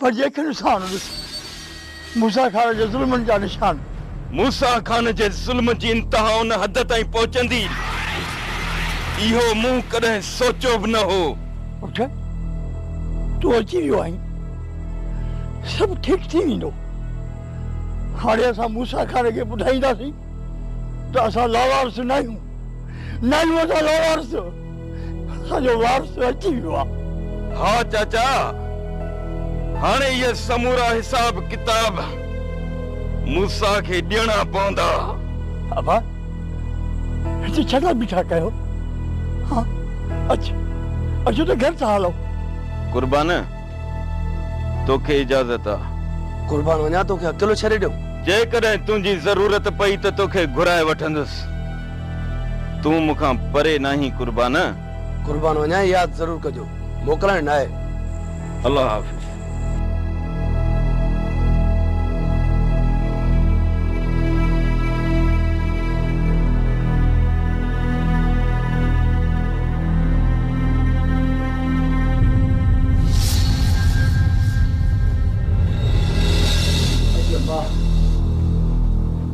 پر جيڪي نشان ڏس موسيٰ خان جي ظلمن جا نشان. موسيٰ خان جي ظلم جي انتها ان حد تائين پهچندي، اهو مون ڪڏهن سوچيو به نه هو. اٿ، تون اچي ويو آهين، سڀ ٺيڪ ٿي ويندو. هاڻي اسان موسيٰ خان کي ٻڌائينداسين ته اسان لاوارث ناهيون، ناهيون اسان لاوارث. اسان جو وارث اچي ويو آ. ها چاچا، هاڻي اهي سمورا حساب ڪتاب موسيٰ کي ڏيڻا پوندا. ابا، هتي ڇڏا بيٺا ڪيو. ها اچ، اچو ته گهر ٿا هلون. قربان، توکي اجازت آ. قربان، وڃان توکي اڪيلو ڇڏي ڏيون؟ جيڪڏهن تنهنجي ضرورت پئي ته توکي گهرائي وٺندس. تون مون کان پري ناهين قربان. قربان وڃان ياد ضرور ڪجو موڪلائڻ ناهي. الله حافظ.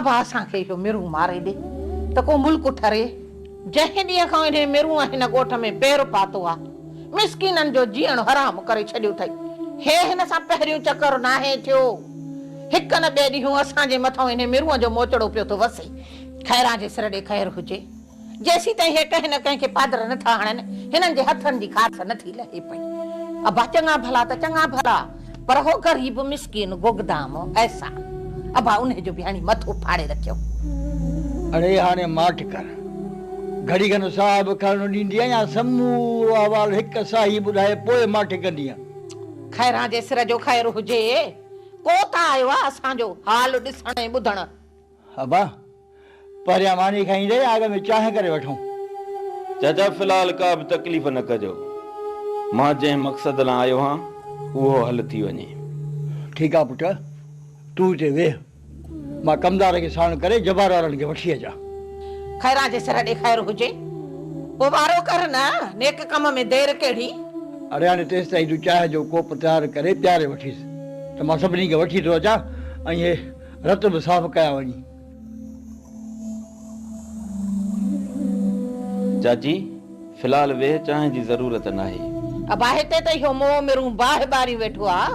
ابا اسان کي اهو مرون ماري ڏي ته ڪو ملڪ ٺري. جنهن ڏينهن کان انهي مرون هن ڳوٺ ۾ پير پاتو آ، مسڪينن جو جيئڻ حرام ڪري ڇڏيو ٿئي. هي هن سان پهريون چڪر ناهي ٿيو. هڪ نه ٻئي ڏينهون اسان جي مٿئون انهي مرون جو موچڙو پيو ٿو وسي. خيران جي سر ڏي خير هجي. جيسيتائين هي ڪنهن نه ڪنهن کي پادر نه ٿا هڻن، هنن جي هٿن جي گاس نه ٿي لهي پئي. ابا چڱا ڀلا ته چڱا ڀلا، پر هو غريب مسڪين گوگدام ايسا. ابا انهي جو به هڻي مٿو ڦاڙي رکيو. اڙي هاڻي ماٺ ڪر. گهڙي کن ساهه به کڻڻ ڏيندينء يا سمورو احوال هڪ ساهي ٻڌائي پوء ماٺ ڪندينء. خيران جي سر جو خير هجي. ڪو ته آيو آ اسان جو حال ڏسڻ ۽ ٻڌڻ. ابا! پهريان ماني کائي ايندي يا اڳ ۾ چانهه ڪري وٺون؟ چاچا في الحال ڪا به تڪليف نه ڪجو. مان جنهن مقصد لان آيو هان اهو حل ٿي وڃي. ٺيڪ آ پٽ. تون هتي ويهه. مان ڪمدار کي ساڻ ڪري جبار وارن کي وٺي اچان. خيران جي سر ڏي خير هجي. پوء وارو ڪر نه. نيڪ ڪم ۾ دير ڪهڙي. اڙي هاڻي تيستائين تون چانهه جو ڪوپ تيار ڪري پياري وٺيس ته مان سڀني کي وٺي ٿو اچان ۽ هي رت به صاف ڪيا وڃي. چاچي في الحال ويهه چانهه جي ضرورت ناهي. ابا هتي ته اهو موهه مرون باهه ٻاريون ويٺو آ.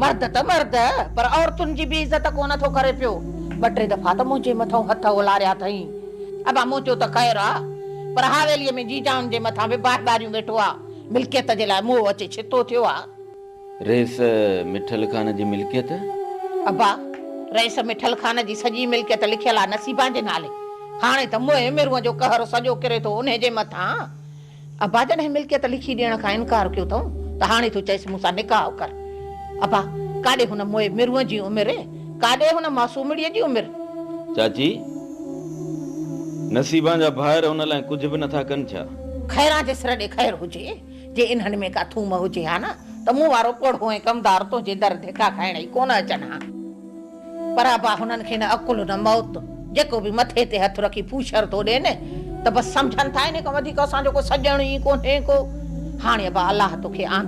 مرد ته مرد پر عورتن جي به عزت ڪونه ٿو ڪري پيو. ٻه ٽي دفعا ته منهنجي مٿئون هٿ اولاريا اٿئين. ابا منهنجو ته خير آ پر حاويليء ۾ جيجائن جي مٿان به باهه ٻاريون ويٺو آ. ملڪيت جي لاء موهه اچي ڇتو ٿيو آ. رئيس مٺل خان جي ملڪيت؟ ابا، رئيس مٺل خان جي سڄي ملڪيت لکيل آ نصيبان جي نالي. هاڻي ته موئي ميرونء جو قهر سڄو ڪري ٿو انهي جي مٿان. ابا جڏهن ملڪيت لکي ڏيڻ کان انڪار ڪيو ٿئون ته هاڻي ٿو چئيس مون سان نڪاح ڪر. ابا، ڪاڏي هن موئي ميرونء جي عمر؟ ڪاڏي هن معصومڙيء جي عمر؟ چاچي، نصيبان جا ڀائر ان لاء ڪجهه به نٿا ڪن ڇا؟ خيران جي سر ڏي خير هجي. جي انهن ۾ ڪا ٿوم هجي ها نه ته مون وارو پوڙهو ۽ ڪمدار تنهنجي در ڌڪا کائڻ ئي ڪونه اچن ها. پر ابا هنن کي نه عقل نه موت، جيڪو به مٿي تي هٿ رکي پوڇر ٿو ڏين ته بس سمجهن ٿا انهي کان وڌيڪ اسان جو ڪو سڄڻ ئي ڪونهي ڪو. هاڻي ابا الله توکي آنڌ.